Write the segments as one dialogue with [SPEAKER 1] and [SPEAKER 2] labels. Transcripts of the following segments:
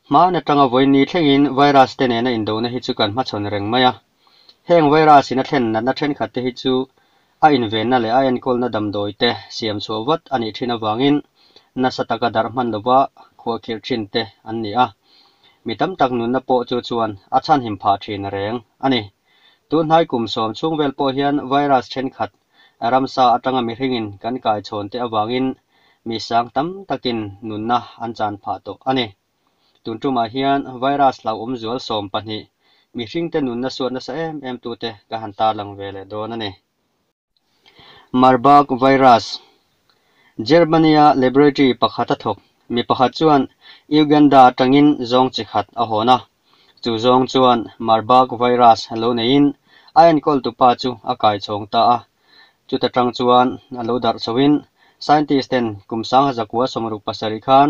[SPEAKER 1] Hmaan atanga vawiin ni thlengin virus te nena indohna hi chu kan hmachhawn reng mai a. Heng virus-in a thlen natna thenkhat te hi chu a invenna leh a enkawlna damdawi te siam chhuah vat a nih thin avangin nasa taka darh hman lova khuahkhirh thin te an ni a. Mi tam tak nunna pawh chu chuan a chhanhim phah thin reng a ni. Tun hnai kum sawm chhung vel pawh hian virus thenkhat ramsa atanga mihringin kan kaichhawn te avangin mi sang tam takin nunna an chan phah tawh a ni. Tun tumah hian virus hlauh awm zual sawm pahnih mihringte nunna suat nasa em em tu te ka han tarlang ve leh dawn a ni. Marburg virus, Germany-a laboratory pakhata thawk mi pakhat chuan Uganda atangin zawng chi khat a hawn a, chu zawng chuan Marburg virus lo neiin a enkawltu pa chu a kaichawng ta a, chuta tang chuan a lo darh chhoin scientist-ten kum sangha zakua sawmruk pasarih khan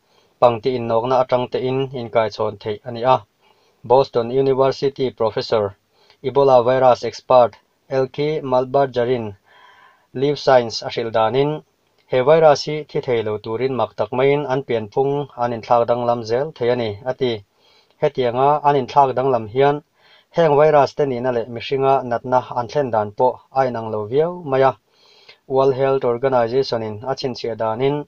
[SPEAKER 1] pangti innawkna atang tein inkaichhawn theih a ni a. Boston University professor, Ebola virus expert Elke Maltbarger-in Live Science a hrilh danin, he virus hi thi thei lo turin mak tak maiin an pianphung an inthlak danglam zel thei a ni, a ti. Hetianga an inthlak danglam hian heng virus te nihna leh mihringa natna an thlen dan pawh a inang lo viau mai a, World Health Organization-in a chhinchhiah danin,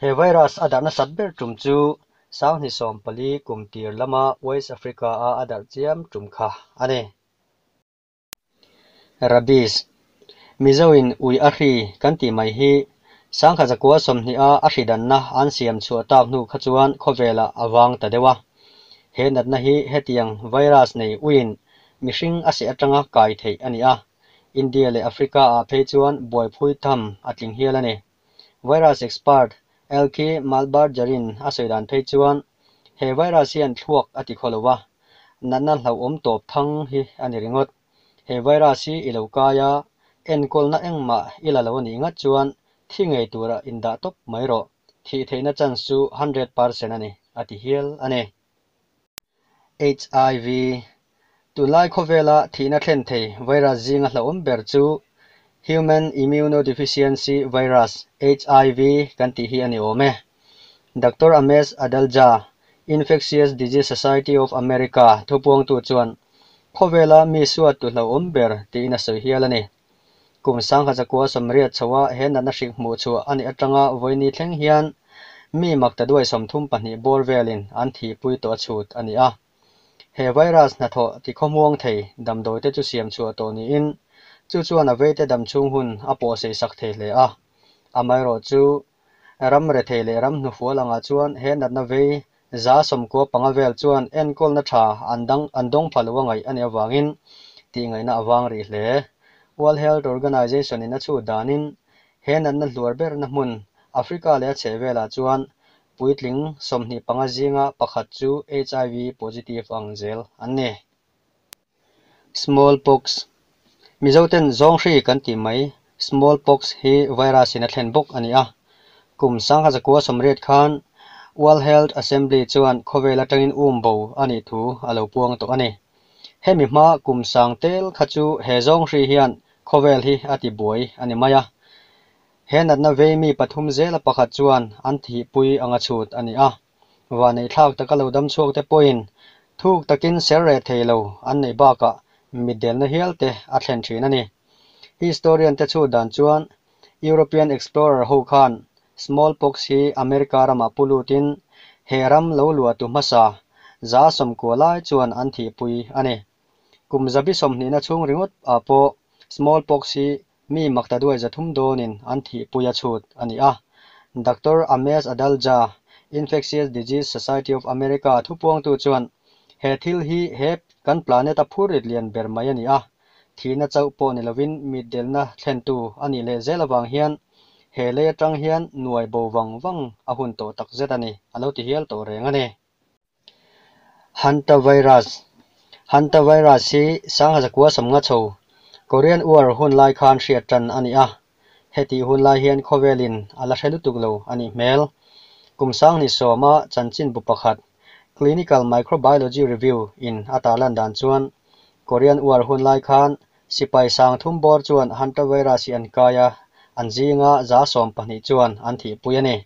[SPEAKER 1] He virus a dar nasat ber tum chu Sanghni sawmpali kum tir lama West Africa a a dar chiam tum kha a ni. Rabies, Mizoin ui a hri kan tih mai hi Sangha zakua sawmhnih a a hridanna an siam chhuah tak hnu kha chuan khawvela a vang ta deuh a. He natna hi hetiang virus nei uiin mihring a seh atanga kai theih a ni a. India leh Africa ah phei chuan buaiphui tham a tling hial a ni. Virus expert Elke Malbargerin a sawi dan phei chuan, He virus hi an thluak a ti khaw lo a, natna hlauhawm tawp thang hi a ni ringawt. He virus hi i lo kai a, enkawlna engmah i la lo a nih ngat chuan thi ngei turah indah tawp mai rawh, thih theihna chance chu hundred percent a ni, a ti hial a ni. HIV, Tunlai khawvela thihna thlen thei virus zinga hlauhawm ber chu Human Immunodeficiency Virus, hiv, kan tih hi a ni awm e. Doctor Amesh Adalja, Infectious Disease Society of America thupuangtu chuan, Khawvela mi suattu hlauhawm ber tiin a sawi hial a ni. Kum sangha chakua sawmriat chho a he natna hrik hmuh chhuah a nih atanga vawiini thleng hian mi makta duai sawm thum pahnih bawr velin an thihpui tawh a chhut a ni a. He virus hnathawh ti khawmuang thei damdawite chu siam chhuah tawh niin chu chuan a veite dam chhung hun a pawhseisak thei hle a, amaherawhchu Ram rethei leh ram hnufual angah chuan he natna vei za sawmkua panga vel chuan enkawlna tha an dang an dawng pha lo a ngaih a nih avangin tihngaihna a vang rih hle. World Health Organization-in a chhut danin he natna hluar berna hmun Africa leh a chhehvelah chuan puitling sawmhnih panga zinga pakhat chu HIV positive ang zel an ni. Smallpox, Mizoten Zawnghrih kan tih mai Smallpox hi virus in a thlen bawk a ni a. Kum sangha zakua sawmriat khan World Health Assembly chuan khawvel atangin um bo a nih thu a lo puang tawh a ni. Hemi hma kum sang tel kha chu he zawnghrih hian khawvel hi a ti buai a ni mai a. He natna vei mi pathum zela pakhat chuan an thihpui anga chhut a ni a. Vaneithlak taka lo dam chhuak te pawhin thuk takin ser reh thei lo an nei bakah mitdelna hial te a thlen thin a ni. Historian te chhut dan chuan European explorer ho khan smallpox hi America ramah pu lutin he ram lo luatu hmasa za sawmkua lai chuan an thihpui a ni. Kum zabi sawmhnihna chhung ringawt ah pawh smallpox hi Mi mak ta duai za thum dawnin an thih pui a chhut a ni a. Doctor Ames Adalja, Infectious Disease Society of America a thupuangtu chuan, He thil hi he kan planet a phur rit lian ber mai a ni a. Thihna chauh pawh ni lovin mitdelna thlentu a nih leh zel avang hian he lei atang hian nuai bo vang vang a hun tawh takzet a ni, a lo ti hial tawh reng a ni. Hantavirus, Hantavirus hi Sanghazakua samnga chho Korean War hun lai khan hriat tan a ni a, hetih hun lai hian khawvelin a la hre lutuk lo a nih hmel. Kum Sanghnih sawma chanchinbu pakhat Clinical Microbiology Review in a tar lan dan chuan Korean War hun lai khan sipai sang thum bawr chuan Hantavirus hi an kai a, an zinga za sawm pahnih chuan an thihpui a ni.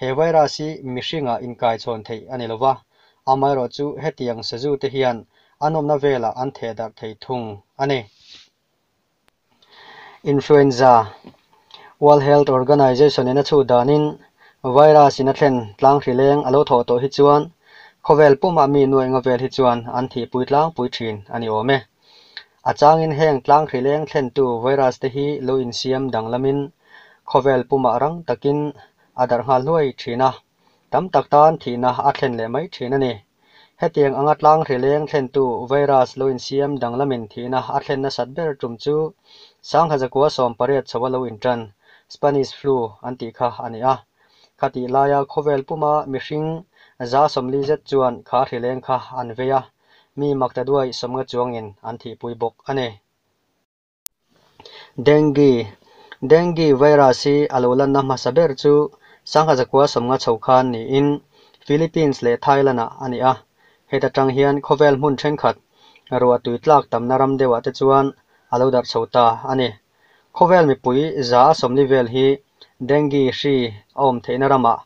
[SPEAKER 1] He virus hi mihringa inkaichhawn theih a ni lo va, amaherawh chu hetiang sazu te hian an awmna velah an theh darh thei thung a ni. Influenza, World Health Organization in a chhut danin virus in a thlen tlang hrileng a lo thaw tawh hi chuan khawvel pumah mi nuaih nga vel hi chuan an thihpui tlangpui thin a ni awm e. A changin heng tlanghril eng thlentu virus te hi lo insiam danglamin khawvel pumah rang takin a darh nghal hluai thin a, tam tak tan thihna a thlen leh mai thin a ni. Hetiang anga tlanghril eng thlentu virus lo insiam danglamin thihna a thlen nasat ber tum chu Sangha zakua sawm pariat chhoh a lo intan, Spanish flu, an tih kha a ni a. Khatih laia khawvel puma mihring za sawmli zet chuan khahril eng kha an vei a, mi makta duai sawmnga chuangin an thihpui bawk a ni. Dengue, Dengue virus hi a lo lanna hmasa ber chu sangha zakua sawmnga chho khan niin Philippines leh Thailand-a a ni a, heta tang hian khawvel hmun thenkhat ruah tui tlak tamna ram deuhah te chuan a lo darh chho ta a ni. Khawvel mipui za a sawmli vel hi Dengue hri a awm theihna ramah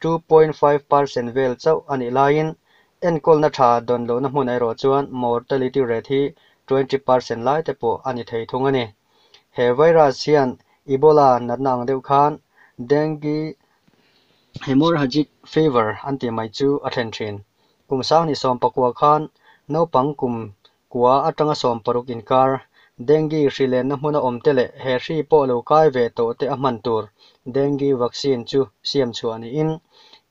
[SPEAKER 1] two point five per cent vel chauh a nih laiin enkawlna tha dawn lohna hmun erawh chuan mortality rate hi twenty per cent lai te pawh a ni thei thung a ni. He virus hian Ebola natna ang deuh khan Dengue, Hemorrhagic Fever an tih mai chu a thlen thin. Kum Sang ni sawmpakua khan naupang kum Kua atanga sawm paruk inkar, dengue hri lenna hmun a awmte leh he hri pawh lo kai ve tawhte a hman tur dengue vaccine chu siam chhuah niin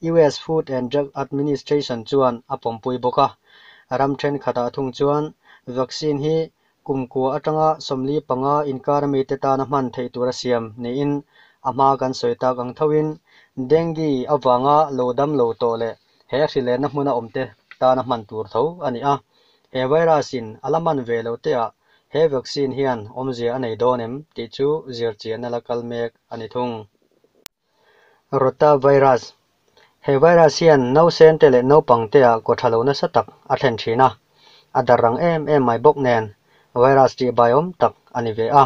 [SPEAKER 1] US Food and Drug Administration chuan a pawmpui bawk a. Ram thenkhatah thung chuan vaccine hi kum kua atanga sawmli panga inkar mite tana hman theih tur a siam niin a hma kan sawi tak ang thoin dengue avanga lo dam lo tawh leh he hrilenna hmuna awmte tana hman tur tho a ni a, he virus in a la man ve lo teah he vaccine hian awmzia a nei dawn em tih chu zirchianna la kal mek a ni thung. Rota virus, He virus hian nausente leh naupangteah kaw tha lo nasa tak a thlen thin a, a dar rang em em mai bawk nen virus tih baiawm tak a ni ve a.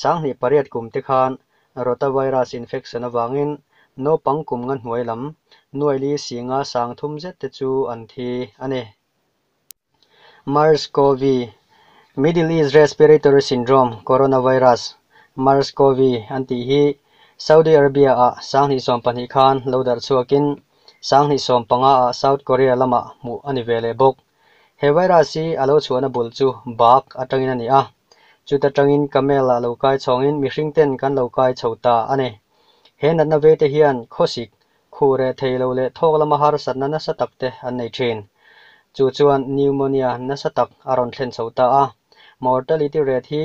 [SPEAKER 1] Sanghnih pariat kum te khan Rotavirus infection avangin naupang kum nga hnuai lam nuaili singa sang thum zet te chu an thi a ni. Mers-Cov, Middle East Respiratory Syndrome, Coronavirus, Mers-Cov, an tih hi Saudi Arabia-ah sanghnih sawm pahnih khan lo darh chhuakin sanghnih sawm panga-ah South Korea lamah hmuh a ni ve leh bawk. He virus hi a lo chhuahna bul chu bak atangin a ni a, chuta tangin camel-a lo kai chhawngin mihring ten kan lo kai chho ta a ni. He natna ve te hian khawsik, khu reh thei lo leh thawk lama harsatna nasa tak te an nei thin. Chu chuan pneumonia nasa tak a rawn thlen chho ta a, mortality rate hi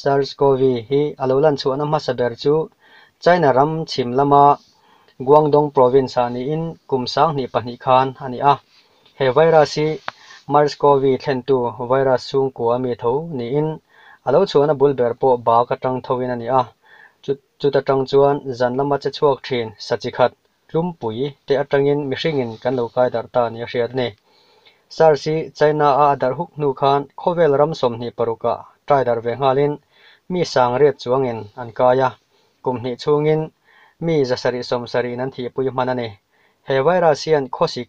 [SPEAKER 1] SARS-CoV hi a lo lan chhuahna hmasa ber chu China ram chhim lama Guangdong Province ah niin kum sang hnih pahnih khan a ni a. He virus hi Mers-Cov thlentu virus chhungkua mi tho niin a lo chhuahna bul ber pawh bak atang thoin a ni a. Chu chuta tang chuan zan lama che chhuak thin sa chi khat tlumpui te atangin mihringin kan lo kai darh ta a nih a hriat a ni. Sars hi China-a a darh huk hnu khan khawvel ram sawmhnih parukah try darh ve nghalin mi sang riat chuangin an kai a, kum hnih chhungin mi zasarih sawmsarihin an thihpui hman a ni. He virus hian khawsik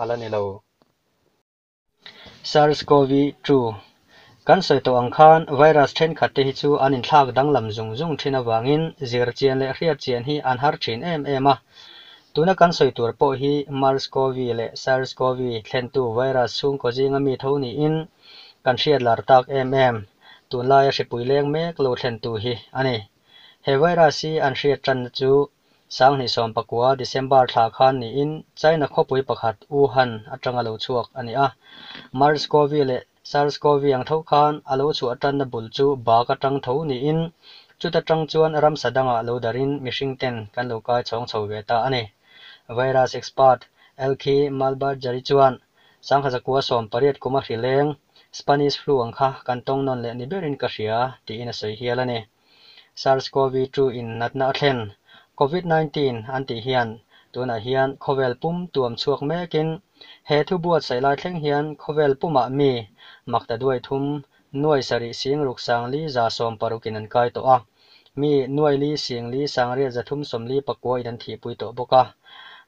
[SPEAKER 1] A la ni lo. SARS-CoV-2 kan sawi tawh ang khan virus thenkhat te hi chu an inthlak danglam zung zung thin avangin zir chian leh hriat chian hi an har thin em em a. Tuna kan sawi tur pawh hi Mars-CoV leh SARS-CoV thlentu virus chhungkaw zinga mi tho niin kan hriat lar tak em em. Tunlaia hripui leng mek lo thlentu hi a ni. He virus hi an hriat tanna chu Sanghnih sawm pakua, December, thla khan niin China khawpui pakhat Wuhan atanga lo chhuak a ni a. Mers-cov leh Sars-cov ang tho khan a lo chhuah tanna bul chu bak atang tho niin chuta tang chuan ramsa dangah lo darin mihring ten kan lo kai chhawng chho ve ta a ni. Virus expert Elkhi Malbajari chuan Sangha zakua sawm pariat kuma hrileng Spanish flu ang kha kan tawng nawn leh ni berin ka hria tiin a sawi hial a ni. SARS-CoV-2 in natna a thlen. Covid nineteen an tih hian tunah hian khawvel pum tuam chhuak mekin he thu buatsaih lai thleng hian khawvel pumah mi makta duai thum nuai sarih sing ruk sang li za sawm paruk in an kai tawh a, mi nuai li sing li sang riat za thum sawm li pakua in an thih pui tawh bawk a.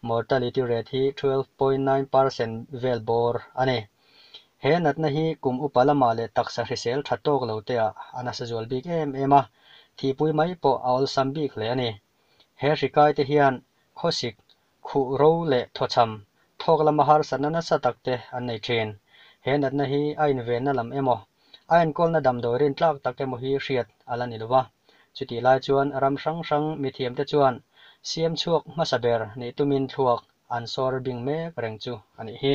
[SPEAKER 1] Mortality rate hi twelve point nine percent vel bawr a ni. He natna hi kum upa lama leh taksa hrisel tha tawk lo teah a nasa zual bik em em a, thihpui mai pawh a awlsam bik hle a ni. He hri kai te hian khawsik, khuh ro leh thawchham, thawk lama harsatna nasa tak te an nei thin. He natna hi a invenna lam emaw, a enkawlna damdawi rin tlak tak emaw hi hriat a la ni lo va, chutih lai chuan ram hrang hrang mithiam te chuan siam chhuak hmasa ber nih tumin thluak an sawr bing mek reng chu a nih hi.